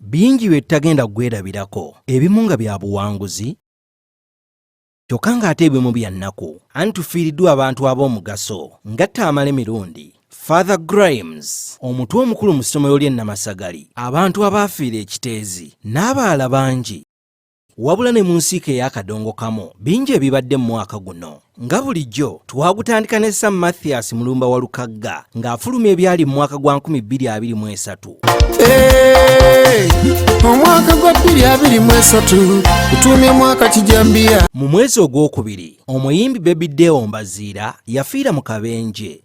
bingi bye tutagenda kugwerabirako ebimu nga bya buwanguzi kyokka ng'ate ebimu bya nnaku anti tufiiriddwa abantu ab'omugaso ngatta amala emirundi father grimes omutwe omukulu mu ssomero ly'e namasagali abantu abaafiira ekiteezi n'abaala bangi Wabula ne mu nsiike ey'akadongokamu bingi ebibadde mu mwaka guno nga bulijjo twagutandika ne sam mathias mulumba wa lukagga ng'afuluma ebyali mu mwaka gwa 223 omwaka gwa 223 gutuumye mwaka kijambiya mu mwezi ogwokubiri omuyimbi bebi deo mbaziira yafiira mu kabenje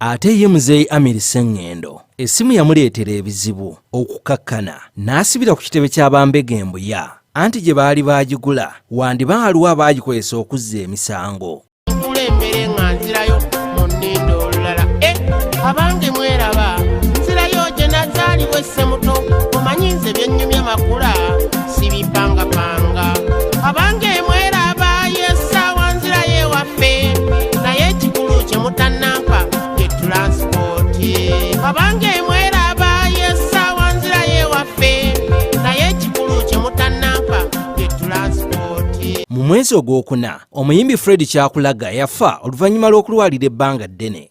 Ate ye muzeeyi Amiri Sengendo essimu yamuleetera ebizibu okukakkana n'asibira ku kitebe kya bambega embuya anti gye baali baagigula wandiba aliwo abaagikozesa okuzza emisango. Nkulembere nga nzirayo mu nninda olulala e abange mweraba nzirayo gye nazaalibwa essemuto omanyi nze byennyumya makula ffe naye ekikulu kye mutanampa ye tulansipooti abange mweraba yesaawa nzira yewaffe naye ekikulu kye mutanampa ye tulansipooti mu mwezi ogwokuna omuyimbi fred kyakulaga yafa oluvannyuma lw'okulwalira ebbanga ddene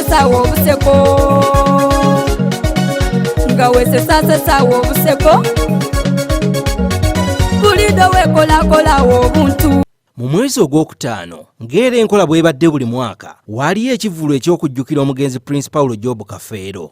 sawa obuseko nga wesesase sawa obuseko bulido wekolakolawo obuntu mu mwezi ogw'okutaano ng'era enkola bwebadde buli mwaka waaliyo ekivvulu eky'okujjukira omugenzi prince paulo job kafeero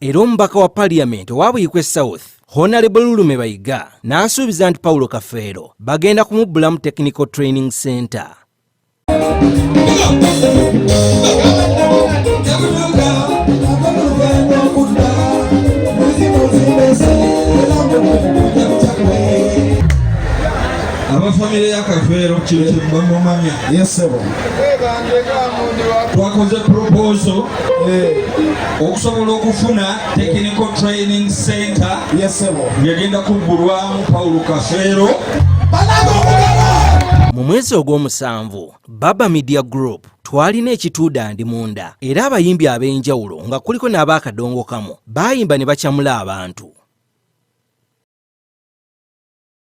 era omubaka wa paliyamenti owa buyikwe south honalebo lulume bayiga n'asuubiza nti pawulo kafeero bagenda kumubbulamu technical training center abafamire ya kafeero kino kyebamumanya yesebo twakoze proposo eh. okusobola okufuna technical training center yesebo ngegenda kuggulwamu pawulo kafeero mu mwezi ogw'omusanvu baba media group twalina ekituuda ndi munda era abayimbi ab'enjawulo nga kuliko n'abaakadongo kamu baayimba ne bacamula abantu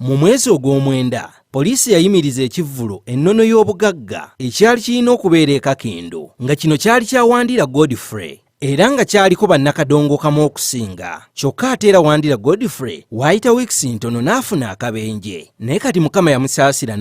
Mu mwezi ogw'omwenda, poliisi yayimiriza ekivvulu ennono y'obugagga ekyali kirina okubeera e Kakindu nga kino kyali kya Wandira Godfrey era nga kyaliko bannakadongokamu okusinga kyokka ate era Wandira Godfrey waayita wiikisi ntono n'afuna akabenje naye kati Mukama yamusaasira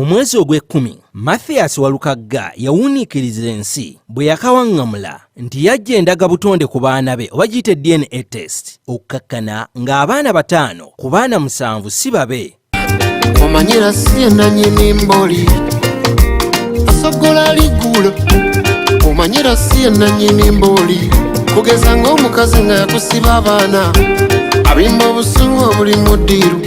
Mu mwezi ogw'ekkumi, Mathias Walukagga yawuniikiriza ensi bwe yakawaŋŋamula nti yajja endaga butonde ku baana be oba giyite DNA test okukakkana ng'abaana bataano ku baana musanvu si babe. Omanyira si enanyini mboli asogola ligulo omanyira si enanyini mboli kugeza ng'omukazi nga yakusiba abaana abimba obusungu obuli mu ddiiru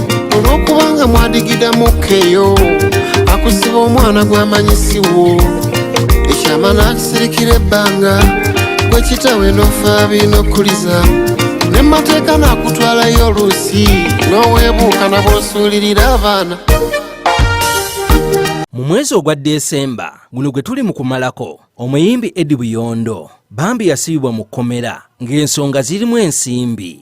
olwokubanga mwadigida mukkeyo akusiba omwana gwamanyisiwo ekyama nakisirikira ebbanga gwekitawe nofa binokuliza nemateeka nakutwalayo oluusi nowebuuka nabwosuulirira abaana mu mwezi ogwa desemba guno gwe tuli mu kumalako omuyimbi edi buyondo bambi yasibibwa mu kkomera ng'ensonga zirimu ensimbi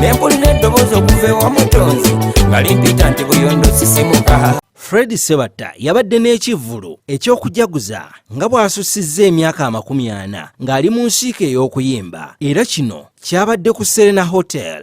nempulira eddoboozi okuva ewamutonzi nga limpita nti buyondo sisimuka fred sebatta yabadde n'ekivvulu eky'okujaguza nga bw'asussizza emyaka amakumi ana ng'ali mu nsiika ey'okuyimba era kino kyabadde ku serena hotel